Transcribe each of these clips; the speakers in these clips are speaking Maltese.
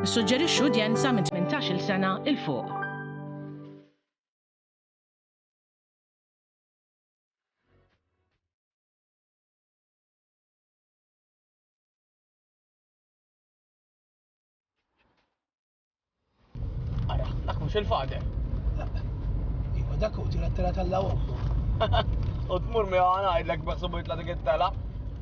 Issuġġerixxu udjenza minn 18-il sena 'l fuq. mhux il-fader. Iwa dak u tira t-tela tal-lawom. U tmur mi għana għidlek beħsubu jitla dik it-tela.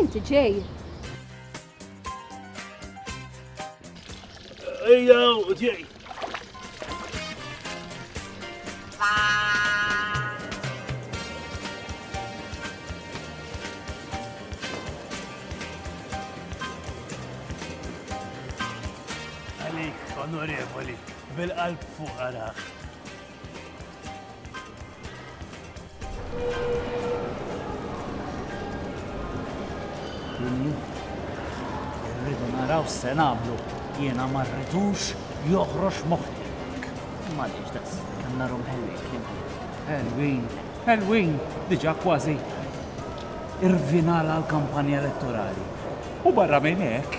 Inti ġej. Ejja, ġej. onorevoli, bil-qalb fuq araħ. Irridu naraw se nagħmlu jiena ma rridux joħroġ moħħi. Ma diġ das, kemm narom ħelwin. Ħelwin, ħelwin, diġà kważi irvinala l-kampanja elettorali. U barra minn hekk,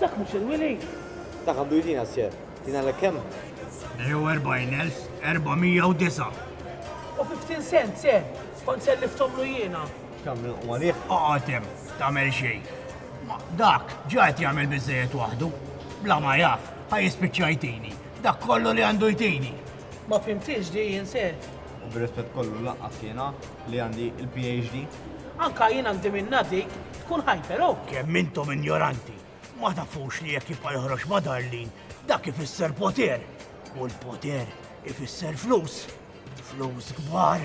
Dak mhux il-wili. Dak għandu jtina sjer. Tina l kemm? 44409. U 15 sent se, kont se liftomlu jiena. Kam u għalih? Oqotem, tamel xej. Dak, ġajt jagħmel biżejjed waħdu. Bla ma jaf, ħaj jispiċċajtini. Dak kollu li għandu jtini. Ma fhimthiex di jien ser. U bir-rispett kollu lanqas jiena li għandi il-PHD. Anka jien għandi minnha dik, tkun hyper oh. Kemm intom injoranti! Ma tafux li jekk jibqa' joħroġ ma' Darlene, dak ifisser poter, u l-poter ifisser flus. Flus kbar.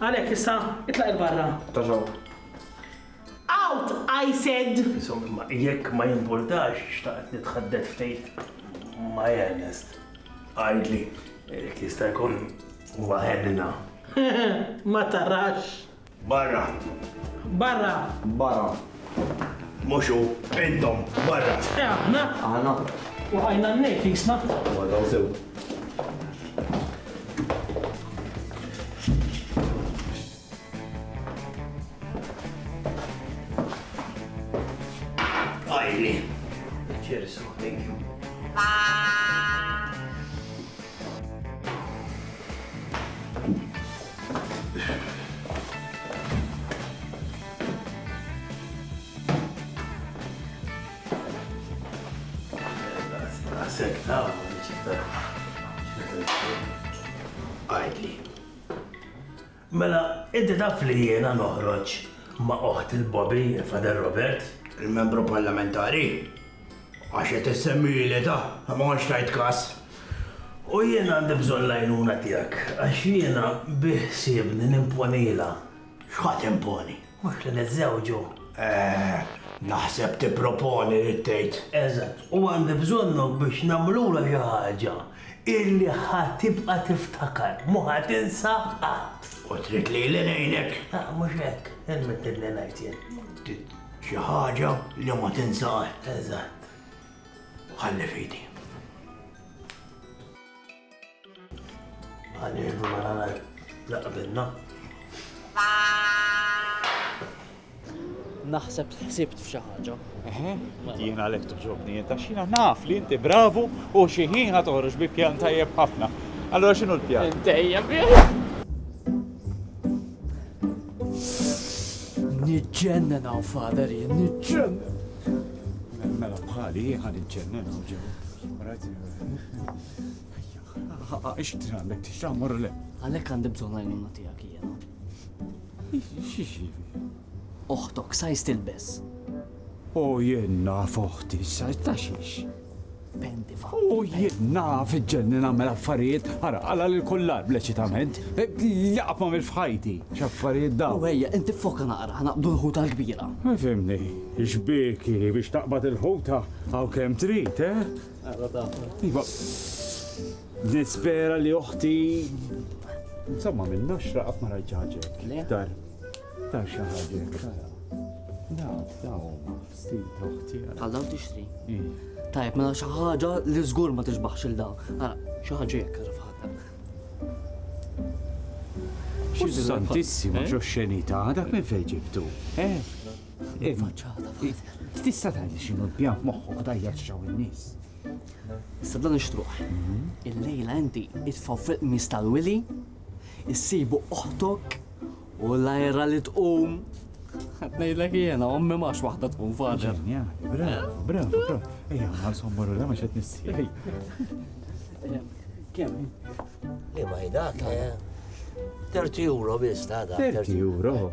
Għalhekk issa itlaq 'il barra. Ta' xogħol. Out, I said! Insomma, jekk ma jimpurtax, xtaqt nitħaddet ftit ma' Ernest. Għidli, jekk jista' jkun huwa ħenna. Ma tarax. Barra. Barra. Barra. Mhux hu, intom, barra! Eh aħna? Aħna? Waqajna n-nejl f'kisna. Waqgħu sew. Għajdli. Mela, inti taf li jiena noħroġ ma' oħt il-Bobby, il-Fader Robert? Il-membru parlamentari? Għax qed issemmi li ta' ma għax tajt kas. U jiena għandi bżonn lajnuna tiegħek, għax jiena biħsibni nimponila X'ħa timponi? Mhux li niżżewġu. Eh, naħseb tipproponi, rrid tgħid. Eżatt, u għandi bżonnok biex nagħmlulha xi ħaġa illi ħa tibqa' tiftakar, mhu ħa tinsa qatt. U trid lili ngħinek? La, mhux hekk, irmettitni ngħid jien. Trid xi ħaġa li ma tinsa qatt. Eżatt. Ħalli f'idi. Għanienu ma nagħlaj laqbilna. Naħseb ħsibt f'xi ħaġa. Eħe, jien għalhekk toġobni jien taxxina naf li inti bravu u xi ħin ħa toħroġ bi pjan tajjeb ħafna. Allora x'inhu l-pjan? Dejjem Niġġennen hawn fader jien, niġġennen. Mela bħali ħan iġġennen hawn ġew. Ix trid għandek tixxamar le? Għalhekk għandi bżonn għajnuna tiegħek jiena. X'ixi? Oħtok sajs tilbes. O jien naf oħti, sajs ta' xiex. Pendi fa. U jien naf iġġenni nagħmel affarijiet, ara għala lil kullar bleċitament. E, Laqab ma mill-fħajti, x'affarijiet daw. U ejja, inti foka naqra, ħanaqbdu l-ħuta l-kbira. Ma fimni, xbiki biex taqbad il-ħuta għaw kem trid, eh? Iva, nispera li uħti. Insomma, minn naxra qatt ma rajt ħaġa. Dar, dar xi ħaġa. Daw, daw, stil toħti. Għal daw tixtri. Tajb, mela xi ħaġa li żgur ma tixbaħx il daw. Ara, xi ħaġa jekk għaraf ħadd. Santissima, xo xenita, dak minn fejn ġibtu. Eh? Iva, tista' tgħidli x'inhu l-pjan f'moħħok tajjeb x'ġew in-nies. Issa dan ixtruħ. Mhm. Il-lejla inti itfgħu fil-qmis tal-wili, issibu oħtok u l-ajra li tqum. Ngħidlek jiena, ommi max waħda tqum fader. Bravo, bravo, bravo. Ejja, ma sommaru la ma xed nissi. Kemm? Li ma jdak, 30 eh? euro biss ta' 30 euro.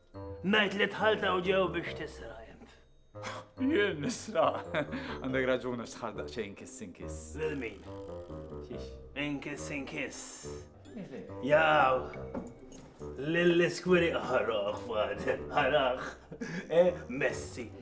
Ngħid li dħalt hawn ġew biex tisra int. Jien nisra. Għandek raġun għax tħal daqsxejn kiss inkiss. Lil min? Xiex? Inkiss inkiss. Jaw, lill-iskwiri ħaraħ, fader, ħaraħ. Eh, Messi,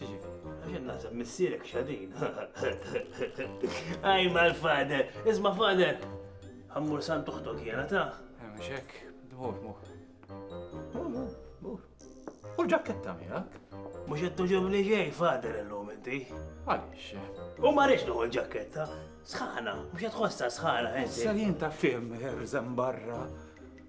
Għaxin naħseb missierek xadin. Għaj mal fader, isma fader, għammur sant uħtok jena ta' Mxek, dmur, mur. U l-ġakketta miegħek? Mhux qed tuġobni ġej fader illum inti. Għaliex? U ma rridx noħu l-ġakketta. Sħana, mhux qed tħossha sħana inti. Salin ta' fim irżem barra.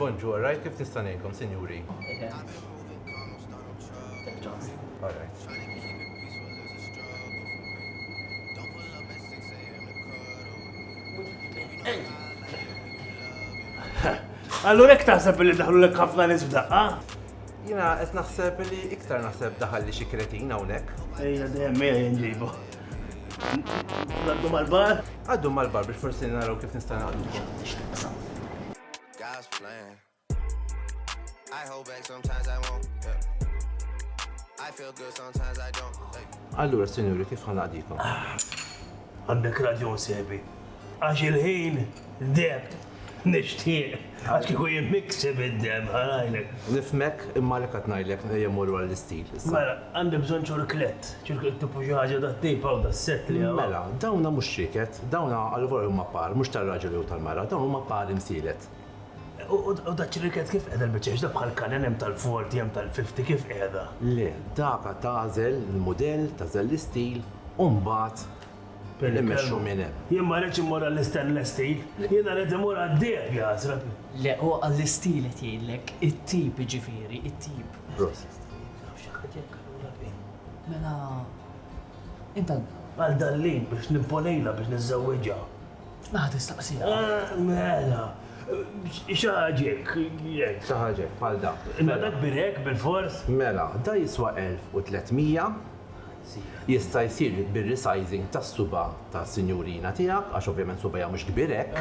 Bonjour, right? Kif nista' ngħinkom, sinjuri? Allura hekk taħseb li daħlu lek ħafna nies f'daqqa? Jina qed naħseb li iktar naħseb daħal li xi kretin hawnhekk. Ejja dejjem ejja jinġibu. Għaddu mal-bar? Għaddu mal-bar biex forsi naraw kif nista' naqdukom. God's plan. I hold back sometimes I won't. Yeah. I feel good sometimes I don't. Hey. Allura, sinjuri, kif ħanaqdikom? Għandek raġun sebi. Għax il-ħin deb. Nixtieq, għax kieku jien nikseb id-deheb ħa ngħidlek. Nifhmek, imma għalhekk qed ngħidlek ejja mmorru għall-istil issa. Mela, għandi bżonn ċurklett. Ċurklett tipu xi ħaġa tat-tejp hawn tas-sett li hawn. Mela, dawna mhux ċrieket, dawna allvora huma par, mhux tar-raġel jew tal-mara, dawn huma par imsielet. U daċ-ċrieket kif qiegħda l-biċċa, x'dak bħal kanen hemm tal-forty hemm tal-fifty kif qiegħda? Le, daka tagħżel il-mudell, tagħżel l-istil u mbagħad. Immexxu minn hemm. Jien ma rridx immur għall-istenless steel, jiena rrid imur għad-deheb, jaħsrati. Le, huwa għall-isteel qed jgħidlek, it-tip jiġifieri, it-tip. Prosit. Naf xi ħadd jekk allura qbil. Mela, int għal min? Għal Darlene biex nimponejlha biex niżżewwiġha. Mela tistaqsiha. Mela, xi ħaġa hekk, hekk. Xi ħaġa hekk, bħal dan. Imma dak kbir hekk bilfors? Mela, dan jiswa 1300. Jista' jsir bir-resizing tas-suba' tas-sinjurina tiegħek, għax ovvjament subgħajha mhux kbir hekk,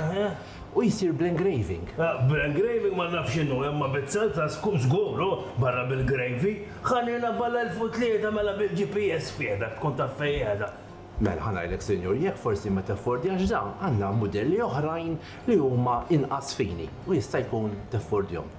u jsir bl-engraving. Bl-engraving ma nafx x'inhu, imma bizzalza żgur hu, barra bil-gravy. Ħa ngħinha bgħal-elf-u-tlieta mela bil-GPS f'idek tkun taf fejn qiegħda. Mela ħa ngħidlek sinjur, jekk forsi ma teffordjax dan, għandna mudelli oħrajn li huma inqas fini u jista' jkun teffordjhom.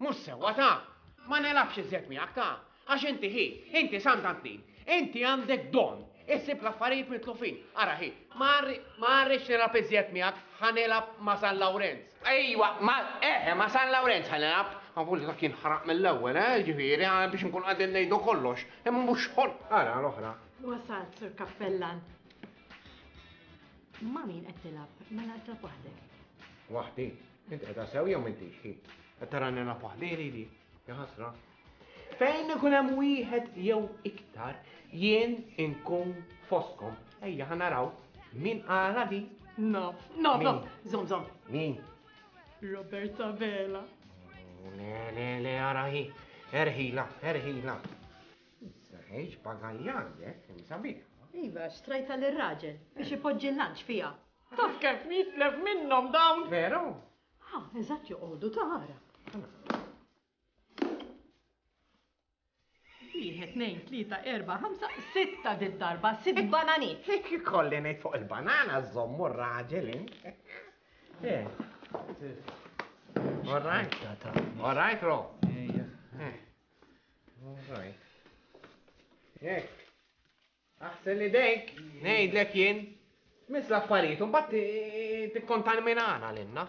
Mhux sewwa ta' ma nelabx iżjed miegħek ta' għax inti ħi, inti Sant Antin, inti għandek don issib l-affarijiet mitlufin. Ara ħi, ma rridx nilgħab iżjed miegħek, ħa nilgħab ma' San Lawrenz. Ejwa, ma eħe, ma' San Lawrenz ħa nilgħab. Avolja dak jinħaraq mill-ewwel, eh, jiġifieri, biex inkunu qegħdin ngħidu kollox. Imma mhux xogħol. Ara l-oħra. Wasalt, Sur Kappellan. Ma' min qed tilgħab? Mela qed tilgħab waħdek. Waħdi? Inti qed sew jew m'intix hi? Qed tarani nilgħab waħdieli li? Ja ħasra. Fejn ikun hemm wieħed jew iktar jien inkun foskom. Ejja ħa naraw min qala di. Naf, naf, naf. Zom, zom. Min? Roberta Vela. Le, le, le, arahi. Erħila, erħila. Żgħeġ bagaljan jekk, kemm sabiħ! Iva, xtrajtha lir-raġel biex ipoġġi l-lunch fiha. Taf kemm jitlef minnhom dawn! Veru? Ah, eżatt joqogħdu tara. Wieħed, tnejn, tlieta, erba', ħamsa, sitta did-darba, sitt bananiet. Hekk ikolli ngħid fuq il-banana żommu r-raġel in. Eh. All right. All right, Ro. Alright. Jek. Aħsel li dejk, nejdlek jien. Mis l-affarijiet, un bat tikkontan minn għana l-inna.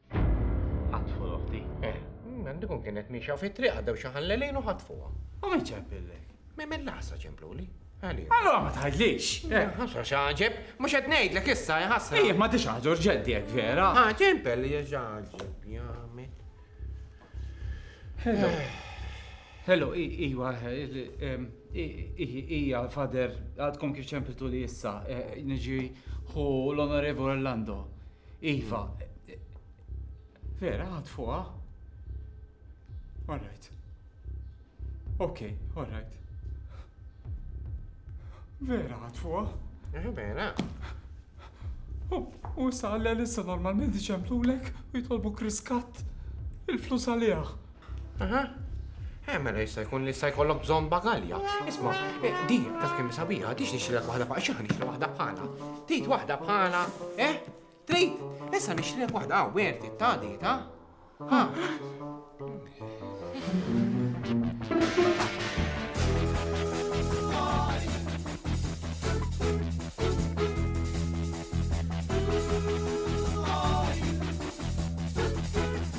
Ħatfu l-oħti. Eh, mm, għandikun kienet miexja fi triq għaddew xi ħallelin u ħatfuha. U min ċempillek? Min mill-lasa ċempluli? Għalli. Allora ma tħallix. Eh. Eh, ħasra xaġeb, mhux qed ngħidlek issa ħasra. Ejjek ma tix ħaġor ġeddi hekk vera. Ah, ah ċempel li ġaġeb jagħmel. Hello. Hello, iwa, ija fader, għadkom kif ċempitu li issa, niġi hu l-onorevo Orlando. Iva. Vera, għad fuqa? Alright. Ok, alright. Vera, għad fuqa? Eh, vera. U issa għalla l-issa normalment iċemplulek u jitolbu kriskat il-flus għalija. Aha. Eh, mela jista' jkun li jista' jkollok bżonn bagalja. Isma', eh, di taf kemm sabiħa, tix nixtrilek waħda bħala xi nixtri waħda bħala. Trid waħda bħala, eh? Trid? Issa nixtrilek waħda hawn werti ta' di ta'. Ha.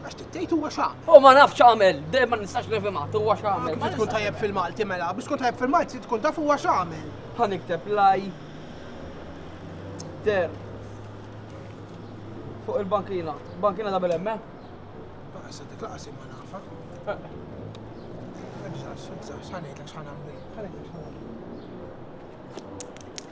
Għax tittejt huwa x'għamel. U ma nafx għamel, dejjem ma nistax nifhimha, huwa x'għamel. Kif tkun tajjeb fil-Malti mela, biex tkun tajjeb fil-Malti tkun taf huwa x'għamel. Ħa nikteb laj der fuq il-bankina. Bankina da bil-emme? Eh? Issa dik laqas imma nafa. Eh. Ebżax, ebżax, ħanejtlek x'ħanamlu. Ħanejtlek x'ħanamlu.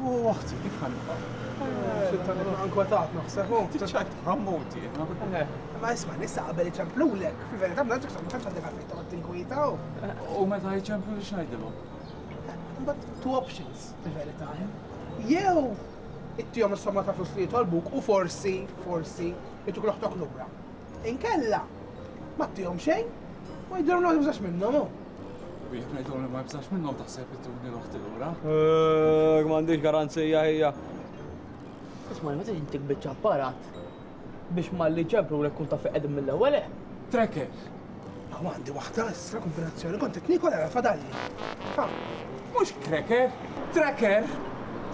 U waħt, kif ħan Sultan ibqa' nkwetat naħseb. Tiċċajt ħammoti. Ma isma' nissa qabel iċemplulek, fil-verità ma nafx ma tantx għandek għalfejn toqgħod tinkwietaw. U meta jċemplu li xnajdilhom? But two options, fil-verità. Jew ittihom is-somma ta' flus li jitolbuk u forsi, forsi, ituk loħtok lura. Inkella, ma ttihom xejn, u jidhirhom li ma tibżax minnhom hu. U jekk ngħidilhom li ma nibżax minnhom taħseb ittuni l-oħti lura? Ehh, m'għandhiex garanzija hija. Isma' li ma tiġi ntik biċċa apparat biex malli jċemplulek tkun taf fejn qegħdin mill-ewwel, eh? Tracker! Hawn għandi waħda issa, kombinazzjoni, kont qed niekol ara fadalli. Ha! Mhux cracker, tracker!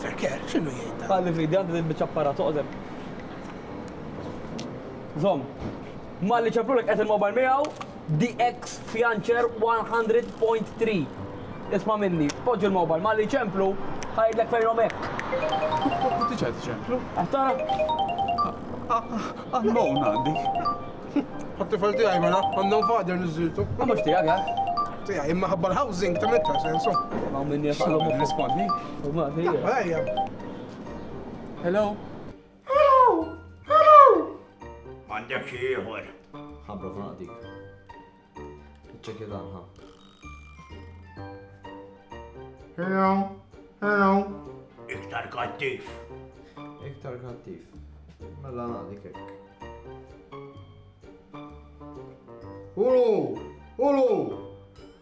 Tracker? X'inhu jgħid dan? Qalli fidi għandi din il-biċċa apparat, oqgħod hemm. Żomm. Malli ċaplulek qed il-mobile miegħu DX Fiancer 100.3. Isma' minni, poġġi l-mobile, malli jċemplu, ħa jgħidlek fejnhom hekk. Diġà qed iċemplu. Qed tara? Unknown għandi. Għat-tifel tiegħi mela, unknown father niżiltu. Ma mhux tiegħek, eh? Tiegħi imma ħabba l-housing ta' meta sensu. Ma minni jaqblu. Rispondi. Ma hija. Hello? Hello! Hello! M'għandek xi ieħor. Ħabra f'naqdik. Ċekja dan ħa. Hello! Hello! Iktar kattif. Iktar kattif. Mela naqdik hekk. Ulu! Ulu!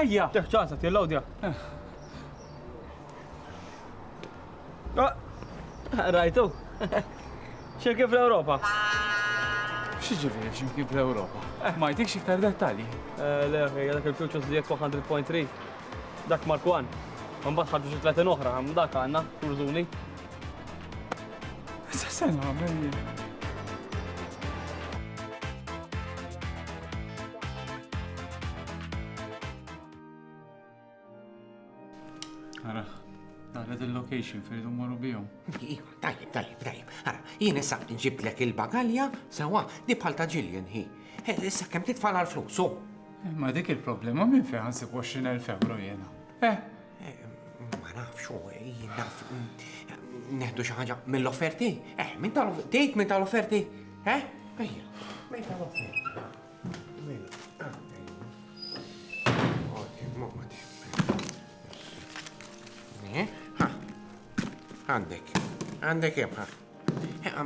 Ejja! Teħ ċansa tillawdja. Rajtu? Ximkien fl-Ewropa. Xi ġifieri ximkien fl-Ewropa? Eh. Ma jtikx iktar dettalji. Eh, le, dak il-Futures li jekk 100.3. Dak Mark 1. Mbagħad ħarġu xi 30 oħra, dak għandna, turzuni. Sa se nagħmel jien. Ara, nara il-location fejdu morru bijom. Iva, tajib, tajib, tajib. Ara, jien issa nġiblek il-bagalja, sewa, di bħal ta' ġiljen hi. Issa kem titfala l-flus, Ma dik il-problema minn fejn nsib 20,000 euro jena. Eh, eh ma nafx, eh, naf, mm, neħdu xi ħaġa mill-offerti. Eh, minn tal-offerti, minn tal-offerti. Eh, ejja, minn tal-offerti. Għandek, għandek jemħa.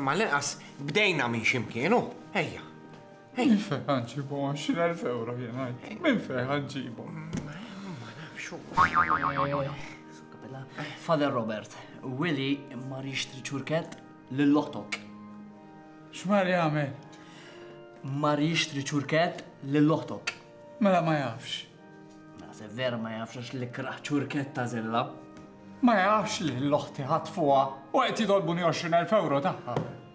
Ma l-inqas bdejna minn ximkienu, ejja. Minn fejn ħanġibhom 20,000 euro jien ngħid? Minn fejn ħanġibhom? Ma nafxu. Father Robert, Willy ma rixtri ċurkett lill-oħtok. X'mar jagħmel? Mar jixtri ċurkett lill-oħtok. Mela ma jafx. Naħseb vera ma jafx għax li kraħ ċurkett ta' zilla. Ma jafx li l-oħti ħatfuha u qed jitolbuni 20,000 euro tagħha.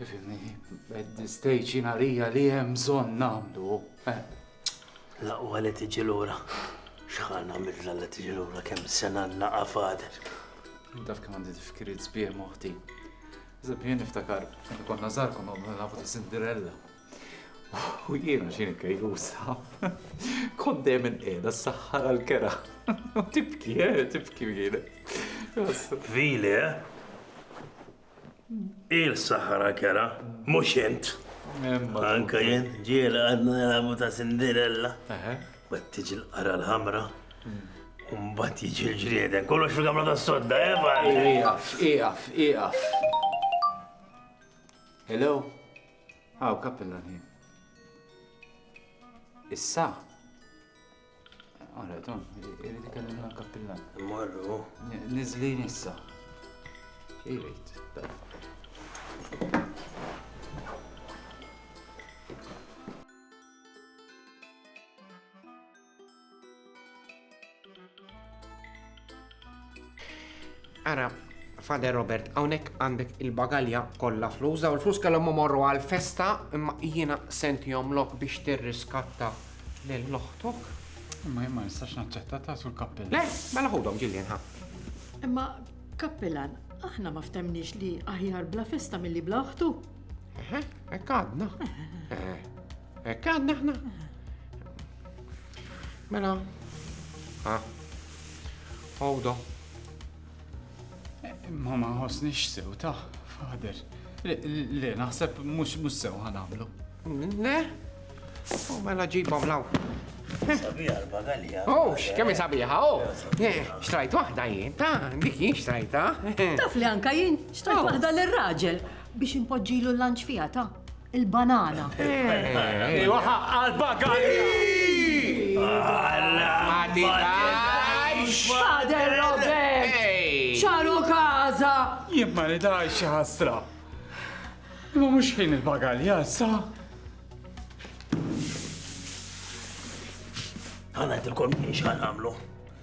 Fimni, at this stage jina rija li hemm bżonn nagħmlu. Eh. Laqwa li tiġi lura. X'ħan għamilna li tiġi lura kemm sena naqa' fader. Daf kemm għandi tifkiriet sbieħ moħti. Zeb jien niftakar, konna żgħar konna nafu ta' Cinderella. U jiena xini kajlusa. Kont dejjem inqiegħda s-saħħar għall-kera. Tibki, eh, tibki jiena. Vili, eh? Il-sahara kera, mux jent. Anka jent, ġiel għadna jelabu ta' Cinderella. Bat tiġi l-qara l-ħamra. Umbat jiġi l-ġrieden. Kollox fil-gamla ta' sodda, eba! Eh, iqaf, iqaf, iqaf. Hello? Għaw, kappillan ħin. Issa? Għara, Tom, irrid ikellimna l-kappillan. Marru. Nizlin issa. Irrid. Ara, Fader Robert, hawnhekk għandek il-bagalja kollha flus, daw il-flus kellhom morru għal festa imma jiena sentihom lok biex tirriskatta lil oħtok. Imma jien ma nistax naċċetta ta' sul kappillan. Le, mela ħudhom ġiljen ħa. Imma kappillan, aħna ma ftemniex li aħjar bla festa milli bla oħtu. Ekk għadna. Ekk għadna aħna. Mela. Ah. Għawda. Ma ma ħosnix sew ta' fader. Le, naħseb mux mux sew ħanamlu. Le? U mela ġibom law. Sabiħa l-bagalja. Oh, xkemmi sabiħa, oh. Eh, xtrajt wahda jien, ta' dik jien xtrajta. Taf li anka jien, xtrajt oh. wahda l-raġel biex impoġġilu l-lanċ fija ta' il-banana. Iwa ħaqqa l-bagalja! Fader Robert! ċaru kaza! Jien ma nidajx xi ħasra. Ma mhux ħin il-bagalja sa. Ħana jtilkom x'ħan għamlu.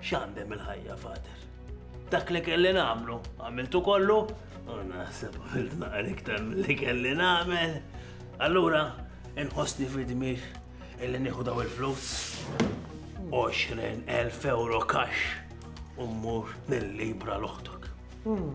X'għandem il-ħajja, Fader? Dak li kelli nagħmlu, għamiltu kollu, u naħseb għamilt naqra iktar li kelli nagħmel. Allura, inħossni fidmir illi nieħu daw il-flus. 20,000 euro kax u mmur nil-libra l-oħtok. Hmm.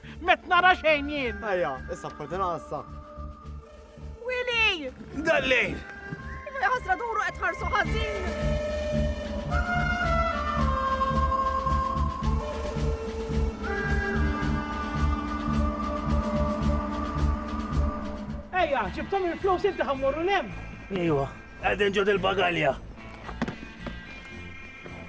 Met nara xejn jien. Ejja, issa f'kordina issa. Willy! Dallejn! Ħasra duru qed ħarsu ħażin. Ejja, ġibtom il-flus inti ħammurru lem. Ejwa, għadin ġod il-bagalja.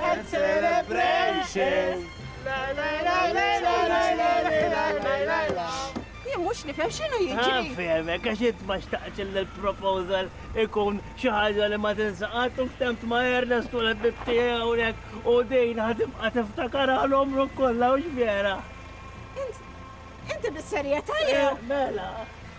and celebrations. Jien mhux nifhem x'inhu jiġri. Nfehmek għax int ma xtaqx il-proposal ikun xi ħaġa li ma tinsaqat u ftemt ma' Ernest u l-ħbib tiegħi hawnhekk u din ħatibqa' tiftakar għal umru kollha u x'vera. Inti bis-serjetà jew? Mela.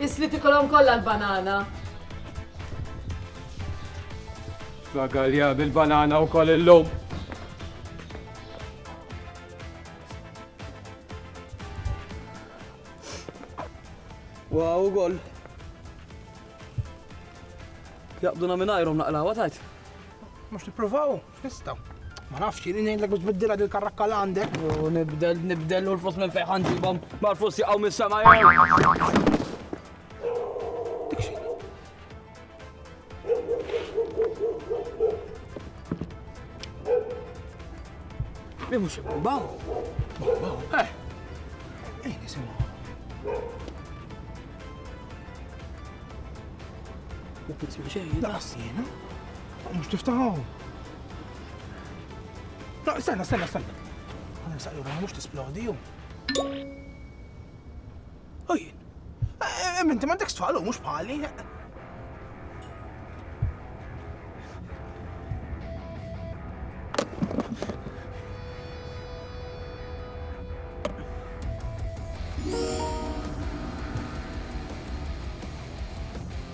Isli tikolhom kollha l-banana. Bagalja bil-banana u koll illum. Wow, gol. Jaqbduna minn ajrom naqlawa tajt. Mux niprovaw? Nista. Ma nafx, jini nejlek biex biddila dil karrakka l għandek. U nibdel, nibdel u l-flus minn fejħan ġibom. Ma l-flus jaqaw minn sema jew. Li mux baw. Baw, eh. Ej, nisimaw. Ma tisma xejn. Laqas jena. Mhux tiftaħu. No, stenna, stenna, stenna. Għana nsaqlu għana mux tisplodi jum. Ujjien. Minti ma dik stfalu, mux bħali.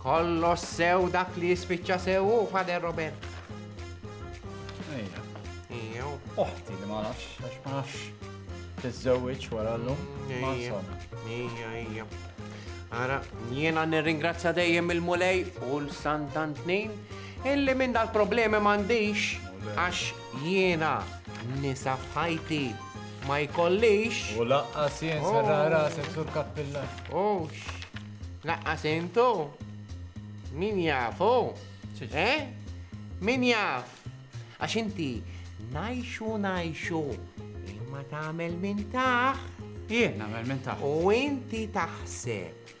Kollox sew dak li jispiċċa sew u Fader Robert. Ejja. Ejja. Oħti li ma nafx, għax ma nafx tiżżewwiġ wara llum. Ejja. Ejja, ejja. Ara, jiena nirringrazzja dejjem il-Mulej u l-Santantnin illi minn dal-problemi m'għandix għax Jiena nisa f'ħajti ma jkollix. U laqqas jien oh. serra rasek sur kappilla. Ux, laqqas intu? Min jafu? Eh? Min jaf? Għax inti najxu najxu imma tagħmel minn taħ. Jien nagħmel minn taħ. U inti taħseb